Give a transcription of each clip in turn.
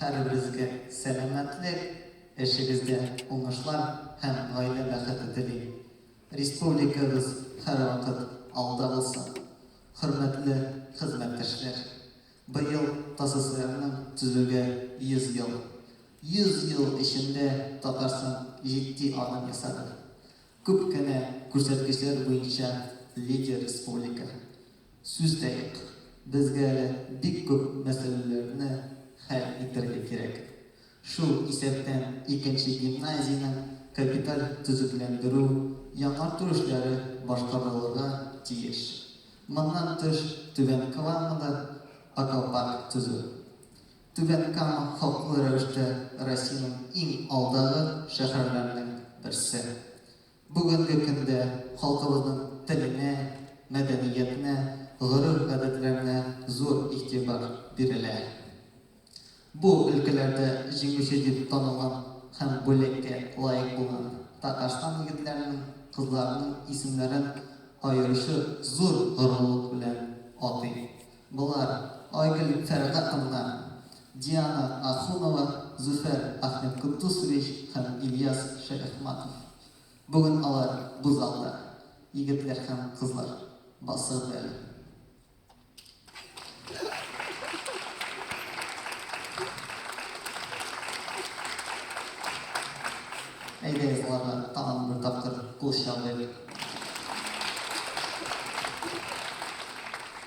Һәрберегезгә сәламәтлек, эшегездә уңышлар һәм гаилә бәхете телим. Республикабыз һәрвакыт алда булсын. Хөрмәтле хезмәттәшләр! Быел ТАССРның төзүгә 100 ел. 100 ел эчендә Татарстан җитди адым ясады. Күп кенә күрсәткечләр буенча лидер республика. Сүз дә юк, безгә әле бик күп мәсьәләләрне хәл итәргә кирәк. Шул исәптән икенче гимназиянең капиталь төзекләндерү, яңарту эшләре башкарылырга тиеш. Моннан тыш, Түбән Камада аквапарк төзү. Түбән Кама хаклы рәвештә Россиянең иң алдагы шәһәрләренең берсе. Бүгенге көндә халкыбызның теленә, мәдәниятенә, гореф-гадәтләренә зур игътибар бирелә. Бу өлкәләрдә җиңүче дип танылган һәм бүләккә лаек булган Татарстан егетләренең, кызларының исемнәрен аеручы зур горурлык белән атыйм. Болар, Айгөл Фәргатовна, Диана Ахунова, Зөфәр Ахметкотдусович һәм Ильяс Шәяхматов. Бүген алар бу залда. Егетләр һәм кызлар, басыгыз әле. Әйдәгез, аларга тагын бер тапкыр кул чабыйк.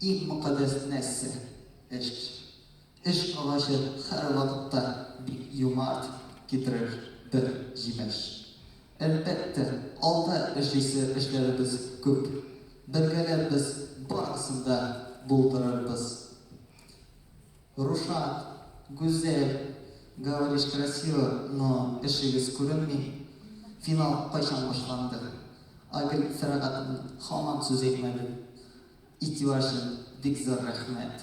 Иң мөкаддәс нәрсә, эш. Эш агачы һәрвакытта бик юмарт китерер бер җимеш. Әлбәттә, алда эшлисе эшләребез күп. Бергәләп без барысын да булдырырбыз. Рушат, Гүзәл, говоришь красиво, но эшегез күренми. Финал кайчан башланды? Айгөл Фәрәгатовна һаман сүз әйтмәде. Игътибар өчен бик зур рәхмәт.